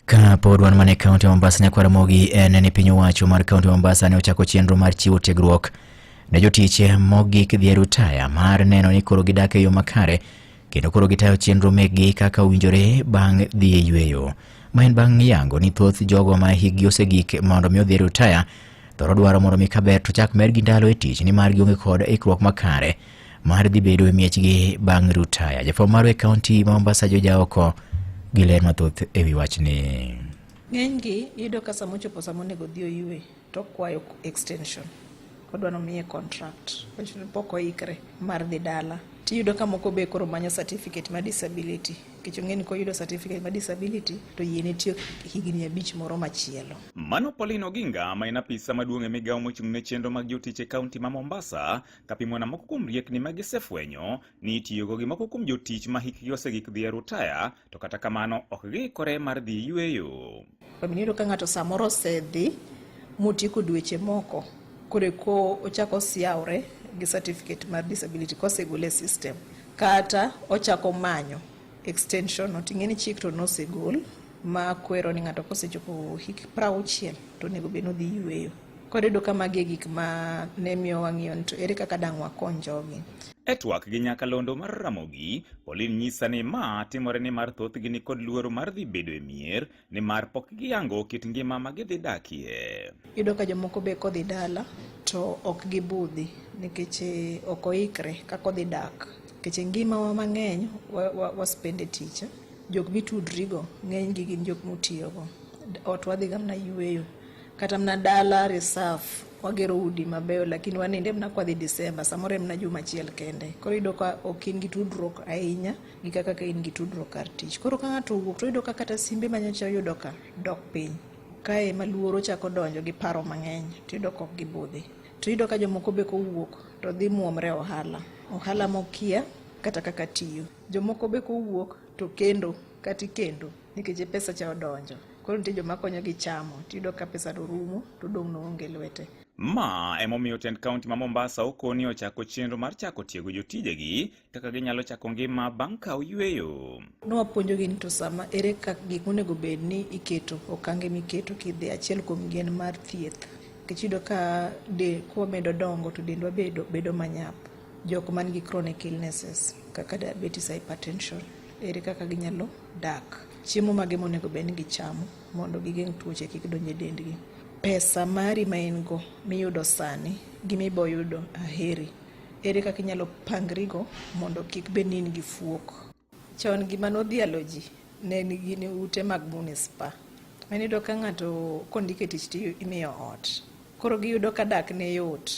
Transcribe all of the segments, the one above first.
Ka pod wan mana e kaunti ma Mombasa, Nyako Ramogi en ni piny owacho mar kaunti ma Mombasa ne ochako chenro mar chiwo tiegruok ne jotich mogik dhi e rutaya mar neno ni koro gidak e yo makare kendo koro gitayo chenro mekgi kaka owinjore bang' dhi e yueyo. Ma en bang' yango ni thoth jogo ma hikgi osegik mondo mi odhi e rutaya thoro dwaro mondo mi kaber to chak medgi ndalo e tich nimar gionge kod ikruok makare mar dhi bedo e miechgi bang' rutaya. Jafwambo marwa e kaunti ma Mombasa Joja Oko gi ler mathoth e wi wachni. Ng'enygi iyudo ka sama ochopo sama onego odhi oywe to okwayo extension odwa nomiye contract pok oikre mar dhi dala tiyudo ka moko be koro manyo certificate ma disability nikech ong'e ni koyudo certificate ma disability to yie ne tiyo higni abich moro machielo. Mano Pauline Oginga ma en apisa maduong' e migawo mochung' ne chenro mag jotich e kaunti ma Mombasa Kapimona moko kuom riekni ma gisefwenyo ni itiyogo gi moko kuom jotich ma hikgi osegik dhi e rutaya, to kata kamano ok giikore mar dhi yueyo. Iyudo ka ng'ato samoro osedhi motieko dweche moko koreko ochako osiawre gi certificate mar disability kosegole e system kata ochako manyo extension not ing'e ni chik to nosegol ma kwero ni ng'ato kosechopo hik prauchiel to onego bed nodhi yweyo koro yudo ka magi e gik ma ne miyo wang'iyo ni to ere kaka dang' wakony jogi E twak gi nyakalondo mar Ramogi, Pauline nyisa ni ma timore ni mar thothgi ni kod luoro mar dhi bedo e mier nimar pok giyango kit ngima ma gidhi dakie. Yudo ka jomoko be kodhi dala to ok gibudhi nikech eh, ok oikre kaka odhi dak nikech ngimawa mang'eny waspende tich jok mitudrigo ng'enygi gin jok mutiyogo ot wadhiga mna yueyo kata mna dala reserve wagero udi mabeyo lakini waninde mna kwadhi Disemba samoro mna juma achiel kende koro yudo ka ok in gi tudruok ahinya gi kaka ka in gi tudruok kar tich. Koro ka ng'ato owuok to oyudo ka kata simbe ma nyocha oyudo ka dok piny. Kae ma luoro chako donjo gi paro mang'eny to iyudo ka ok gibudhi. To iyudo ka jomoko be kowuok to dhi muomre ohala. Ohala mokia kata kaka tiyo. Jomoko be kowuok to kendo kata ikendo nikech e pesa cha odonjo. Koro nitie joma konyo gi chamo to iyudo ka pesa no rumo to odong' no onge lwete. Ma emomiyo tend kaunti ma Mombasa okoni ochako chenro mar chako tiego jotijegi kaka ginyalo chako ngima bang' ka oyueyo. Nwapuonjogi ni to sama ere kaka gik monego bed ni iketo okange miketo kidhi achiel kuom gen mar thieth nikech iyudo ka de kwamedo dongo to dendwa bedo bedo manyap jok man gi chronic illnesses kaka diabetes hypertension ere kaka ginyalo dak chiemo mage monego bed ni gichamo mondo gigeng' tuoche kik donj e dendgi pesa mari ma in go miyudo sani gi miboyudo aheri Ere kaka inyalo pangrigo mondo kik bed ni in gi fuok? Chon gima nodhialo ji ne en gin ute mag munispa. Mane iyudo ka ng'ato kondike tich to imiyo ot. Koro giyudo ka dak ne yot.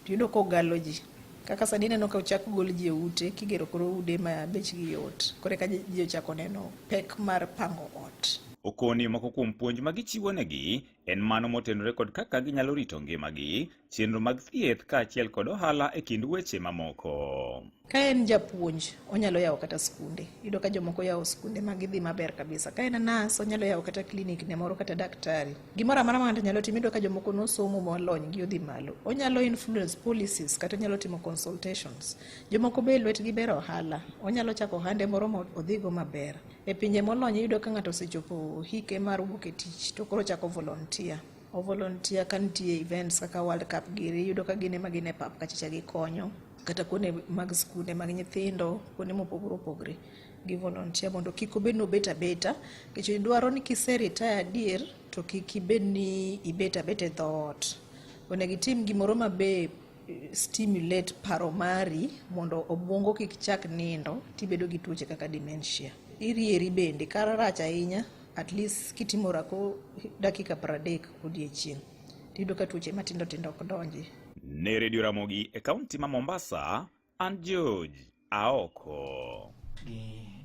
Tiyudo kogalo ji. Kaka sani ineno ka ochak gol ji e ute kigero koro ude ma bechgi yot. Koro eka ji ochako neno pek mar pango ot. Okoni moko kuom puonj ma gichiwonegi En mano motenore kod kaka ginyalo rito ngimagi, chenro mag thieth kaachiel kod ohala e kind weche mamoko. Ka en japuonj, onyalo yawo kata skunde. Yudo ka jomoko yawo skunde ma gidhi maber kabisa. Ka en nas, onyalo yawo kata klinik ne moro kata daktari. Gimoro amara ma nyalo timo, yudo ka jomoko nosomo molony gi odhi malo. Onyalo influence policies kata onyalo timo consultations. Jomoko be lwetgi ber ohala. Onyalo chako ohande moro ma odhigo maber. E pinje molony iyudo ka ng'ato osechopo hike mar wuok e tich to koro chako volunteer. O volunteer ka nitie events kaka World Cup giri iyudo ka gin ema gin e pap kachacha gikonyo kata kuonde mag skunde mag nyithindo kuonde mopogore opogore gi volunteer mondo kik obed ni obet abeta nikech dwaro ni kise retire adier to kik ibed ni ibet abeta e dhoot. Onego itim gimoro ma be stimulate paro mari mondo obwongo kik chak nindo tibedo gi tuoche kaka dementia. Irieri bende kara rach ahinya at least kitimo rako dakika pradek odiechieng' tiyudo ka tuoche matindo tindo ok donji. Ne redio Ramogi e kaunti ma Mombasa, an George Aoko. Gi